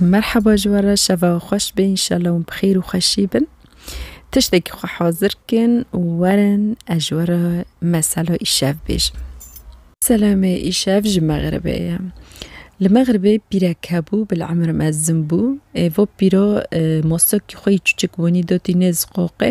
Merheba ji we re şeva we xweş be înşallah hûn bi xêr û xweşî bin. Tiştekî xwe hazir kin û werin ez ji we re mesela îşev bêjim. Selamê îşev ji Mexribê ye. Li Mexribê pîrek hebû bil emir mezin bû. Êvo pîro mosokî xwe yî çûçik bûnî dotî nêz qoqê.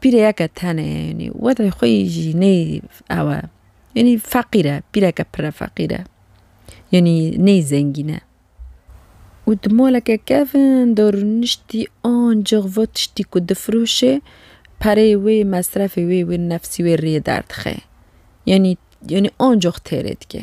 Pîreyeke tenê ye yanî wextê xwe yî jî nê ew e yanî feqîr e pîreke pire feqîr e yanî nê zengîn e û di maleke kevin de rûniştî ancix va tiştî ku difiroşê pereyê wê mesrefê wê wê nefsî wê rê derdixê yanî yanî ancix têrê dike.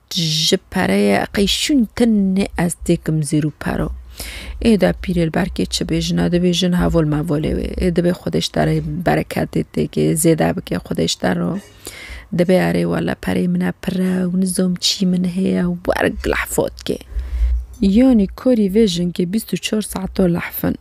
Ji pereyê qeyşûn tenê ez têkim zêr û pero. Ê de pîrê li ber kê çi bêjin? A dibêjin hevol mevolê wê. Ê dibê Xwedêş te rê bereketê tê kê zêde bike Xwedêş te ro. Dibê erê wele pereyê min e pir e û nizom çî min heye û werek lehfot kê. Yanî korî vê jinkê bîst û çar saeto lehfin.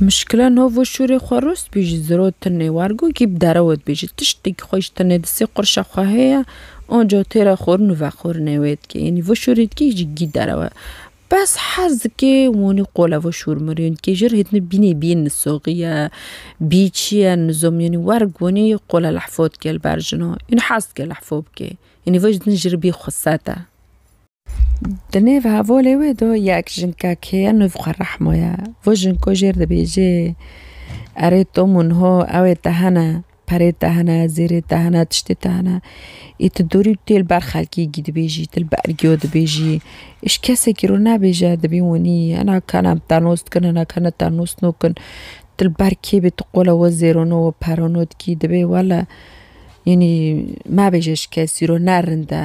Mişkila no vo şûrê xwe rost bî ji ziro tinê war go kî bi derewe dibêje tiştê kî xwe ji tinê di sê qurşa xwe heye onco têra xorn û vexornê wê dike yanî vo şûrê dikê yî ji gî derewe bes hez dikê wanî qola vo şûr mir yanî kê jir hêtinê bînê bî nisoxî ye bî çi ye nizom yanî werg wanî qola lehfo dike li ber jina yanî hez dike lehfo bike yanî vo ji din jir bî xweset e. Di nêv hevolê wê de yek jinka kê ye nûv xwe rehmo ye. Vo jinko jêr dibêjê erê to min ho ewê te hene, perê te hene, zêrê te hene, tiştê te hene. Î tu dorî tu yê li ber xelkê gî dibêjî, tu li ber giyo dibêjî. Îş kesekî ro nebêje dibîn winî hena ka ne te nos dikin hena ka ne te nos nakin. Tu li ber kê bê tu qola we zêrano we perano dikî dibê wele înî mebêje ji kesî ro ne rind e.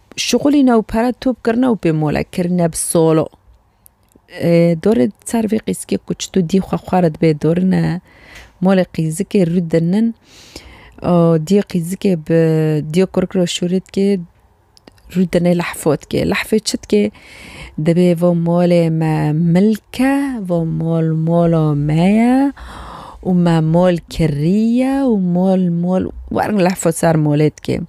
Şixulî ne û pere top kirine û pê mole kirine bi solo. Dorê di ser vê qîzikê ku çitû dî xwe xwe re dibê dorine molê qîzikê rû dinin. Diyê qîzikê bi diyê kurik re şûrê dikê rû dinê lehfo dikê. Lehfê çi dikê? Dibê va molê me milk e, va mol mola me ye û me mol kirî ye û mol mol werin lehfo ser molê dikê.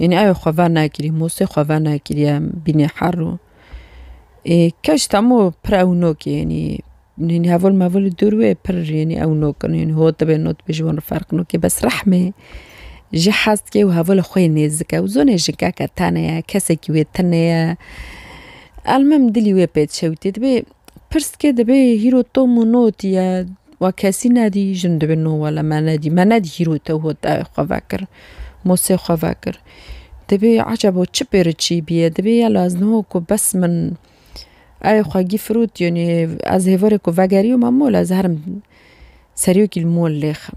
Yanî ew ê xwe vernekirî, Mûsê xwe vernekiriye bînê her rû. Ê keç temû pir ewno ke yanî nîn hevol mevol li dûr wê pir yanî ewno kin yanî hot dibe not dibe ji wan re ferq nake bes rehmê ji hez dike û heval li xwe yê nêzik e û zonê jinkeke tenê ye kesekî wê tune ye. Elmim dilî wê pê çewtî dibê Pirsgê dibê hîro Tom û not ye. Wa kesî nedî jin dibê no wele me nedî. Me nedî hîro te hot ew xwe vekir. Mosê xwe vekir. Dibê ecebo çi pêri çî bîye. Dibê ya laz no ku bes min ew xwe gî firot yenê ez hêverê ku vegerî ma mol ez herim seriyokî li mol lêxim.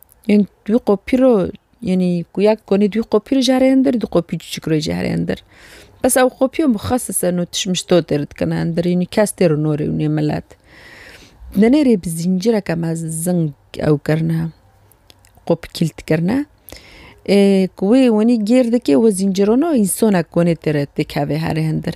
Yên dû qopî ro yenî ku ya konî dû qopî ro jî here hindir dû qopî çûçik ro jî here hindir. Bes ew qopî xas li ser notiş mişto tê rit kirin hindir yenî kes tê ro norê wî nê milet. Denerê bi zîncireke mezin ew kirine qopî kîlt kirine ê ku wê wenî gêr dikê wê zîncirona însonek konê tê re têkeve here hindir.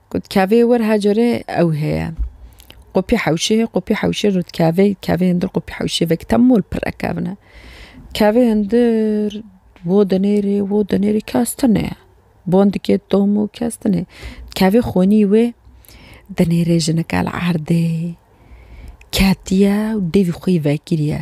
Got kavê wir her carê ew heye. Qopî hewşê hê, qopî hewşê rût kavê, kavê hindir qopî hewşê vek temol pire kevne. Kavê hindir wo dinêrê, wo dinêrê kes tine. Bon dikê tomu kes tine. Kavê xonî wê dinêrê jinika li erdê ketiye û devî xwe yî vekiriye.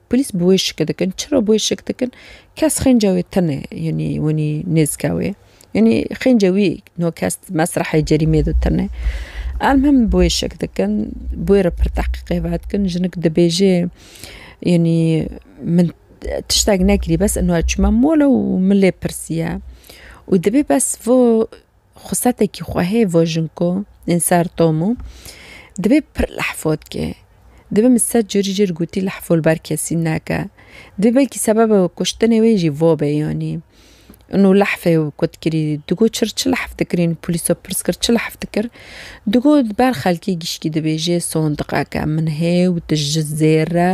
Polîs bi wê şik dikin. Çira bi wê şik dikin? Kes xênca wê tune yanî winî nêzika wê. Yanî xênca wî no kes di mesrehê cerîmê de tune. Elmhim bi wê şik dikin. Bi wê re pir tehqîqê vedikin. Jinik dibêje yanî min tiştek nekirî bes ino ez çûme mol e û min lê pirsiye û dibê bes vê Xusetekî xwehê vojinko ên ser Tom û dibê pir lehfotke. Dibê min sed carî jê re gotî lehfo li ber kesî neke. Dibê belkî sebeba kuştinê wê jî vo be yanî. Û lehfê ku dikirî digot çi re çi lehf dikirî û polîs we pirs kir çi lehf dikir. Digot li ber xelkê gişkî dibêje sondiqeke min heye û tu ji zêr re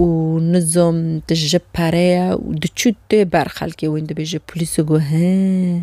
û nizom tu ji pere ye û diçû tê ber xelkê wê dibêje polîs got hee.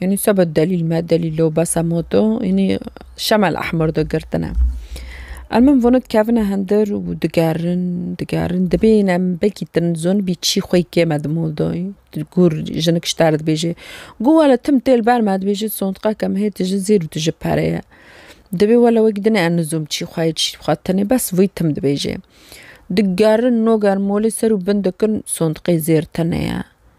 Yanî se be delîl me delîlo besa moto yanî şemel ehmur de girtine. Em min vonê dikevine hindir û digerin digerin dibên em bekî din zon bî çî xwe yê kê me di modoyê gûr jinik ji te re dibêje gû wele tim tê li ber me dibêje sondiqeke min hê tu ji zêr û tu ji pere ye. Dibê wele wekî dinê em nizom çî xwe yê çî xwe tenê bes vî tim dibêje. Digerin nogerin molê ser û bin dikin sondiqê zêr tenê ye.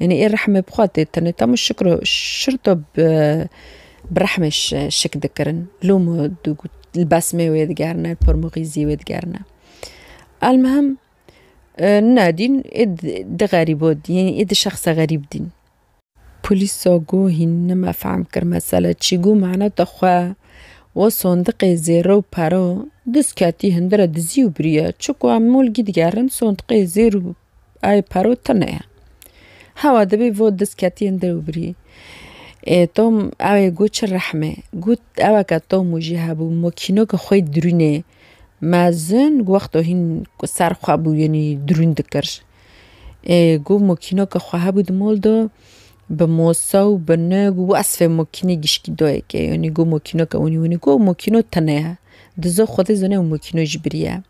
Yanî ê rehmê bi xwe tê tenê tam û şik ro şirto bi rehmê şik dikirin. Lûm û li besmê wê digerine, pormûxîzî wê digerine. Elmihim ne dîn ê di xerîbo dîn ê di şexsa xerîb dîn. Polîsa got hîn nime fehm kir mesele çi got maneta xwe wo sondiqê zêro û paro diz ketî hindire dizî û biriye. Çiku em molgî digerin sondiqê zêr û Ay paro tune ye. Hewa dibî vo diz ketiyên dewbirî. Ê Tom ewê got çi rehme. Got eweke Tom û jî hebû mokînoke xwe yê dirûnê mezin got wexto hîn ser xwe bû yenî dirûn dikir. Ê got mokînoke xwe hebû di mol de bi mosa û bi nig û esfê mokînê gişkî dayeke yenî got mokînoke winî winî. Got mokîno tune ye. Dizo xwedî zane û mokîno jî biriye.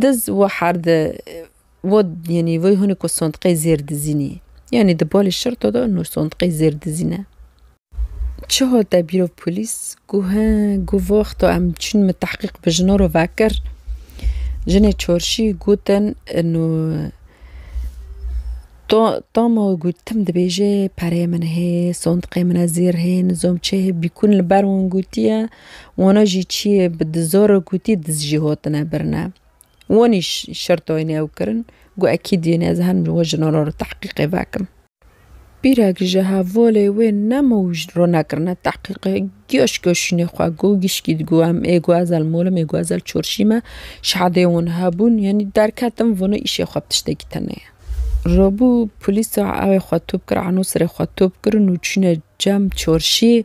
Diz û herde wo yenî vê hûnê ku sondiqê zêr dizînî. Yenî di balê şirto de nû sondiqê zêr dizîne. Çi hal te bîrov polîs gu he gu vexto em çûn min tehqîq bi jina re vekir. Jinê çarşî gotin nû to tama gu tim dibêje pereyê min hê, sondiqê min e zêr hê, nizom çi hê bîkûn li ber wan gotiye. Wano jî çiyê bi dizoro kûtî diz jî hotine birine. Wonî şertoynê ew kirin, gu ekîd yên ez herim ji we ji no re tehqîqê vekim. Pîrek ji hevolê wê nemo û ji ro nekirine tehqîqê, giyaş giyaşînê xwe gu gişkî digu em ê gu ezel molim ê gu ezel çorşî me. Şehadê won hebûn yanî derketin vano îşê xwe bi tiştekî tene ye. Rabû polîsa ewê xwe top kir, eno sirê xwe top kirin û çûne cem çorşî.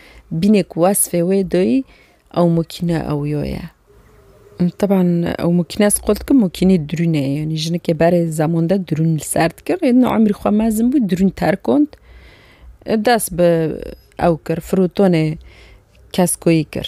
Bînê ku wesfê wê doyî ew mokîne ewiyo ye. Teban ew mokîne ez qol dikim mokînê dirûne ye yanî jinikê berê zeman de dirûn li ser dikir rê din emrî xwe mezin bû dirûn terkond dest bi ew kir firotonê keskoyî kir.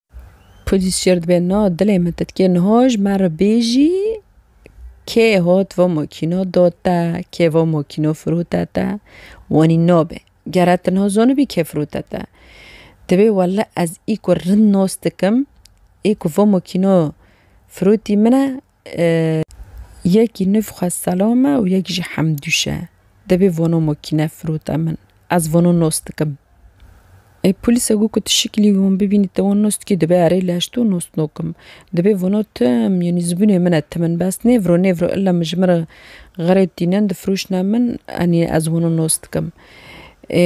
Polîs şêr dibe na dilê min titkê niha ji me re bêjî kê hat va makîna da te, kê va makîna firote te, wanî nabe. Gere ti niha zanibî kê firote te. Tibê wele ez î ku rind nas dikim, ê ku va makîna firotî min e, Yekî nûv xwe selam e û yek jî hemdûş e. Dibê vano makîne firote min. Ez vano nos dikim. Ê polîse got ku tu şikilî wî hûn bibînî te wan nos dikî dibê erê leş to nos nakim. Dibê vano tim yanî zibûnê min e tim in bes nêviro nêviro illa min ji min re xerê tînin difiroşne min anî ez wano nos dikim. Ê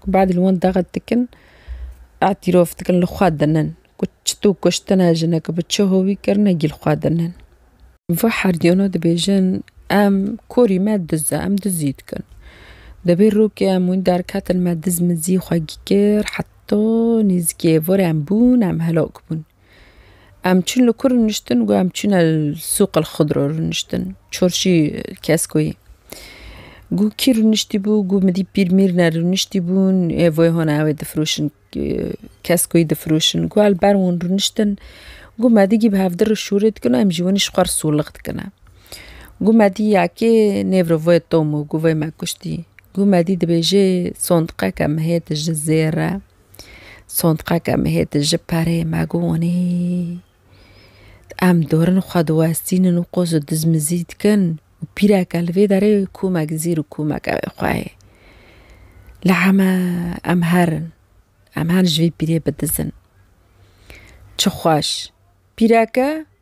Ku bad li wan daxet dikin, îtîrof dikin li xwe dinin ku çitû kuştina jineke bi çi hovî kirine gîl xwe dinin. Va herdiyana dibêjin em korî me diz e, em dizî dikin. Dibê rokê em wîn derketin me diz mizî xwe kir heta nêzîkê êvarê em bûn em helak bûn. Em çûn li ku rûniştin got em çûne li sûqil xudro rûniştin çorşî keskoyî got kî rûniştî bû got min dît pîr mîr ne rûniştî bûn ê voy hona ewê difroşin keskoyî difroşin got el ber wan rûniştin got me digî bi hevdir şûrê dikin em ji winî ji xwe sûlix dikine got me dî ya kê nêvro voy Tom got voy me kuştî got me dî dibêjê sondiqeke mihê dije zêre Sondqeke me hê di ji perê me gonî. Em dorin xwe diwestînin û qoz û dizmizî dikin û pîreke li vê derê komek zîr û komek ew ê xwe hê. Li heme em herin. Em her ji vê pîrê bidizin. Çi xweş. Pîreke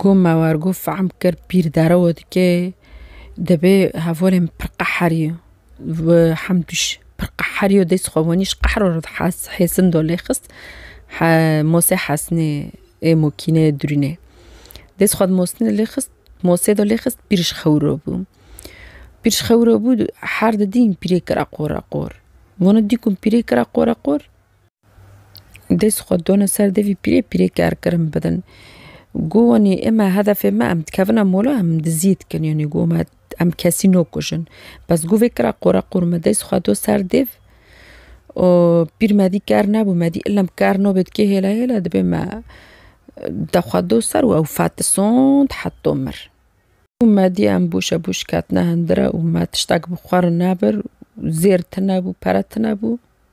Got me war got fehm kir pîr derewe dike dibê hevalên pir qeherî û hemdûş pir qeherî û dê xwe wanî ji qehra re hêsin da lê xist masê hesnê ê mokîneyê dirûnê dê xwe di mosnê lê xist masê de lê xist pîr ji xewiro bû. Pîr ji xewiro bû her didîn pîrê kira qoreqor. Wan dî ku pîrê kira qoreqor Dest xwe dana ser devî pîrê pîrê kerkirin bidin. Got wanî eme hedefê me em dikevin em ola em dizî dikin yanî got me em kesî nakujin. Bes got vê kira qora qor me dest xwe da ser dêv û pîr me dî ker nebû me dî ilm ker nabe dikê hêla hêla dibê me de xwe da ser û ew fetisand heta mir. Got me dî em boşa boş ketine hindira û me tiştek bi xwe re nebir zêr tune bû pere tune bû.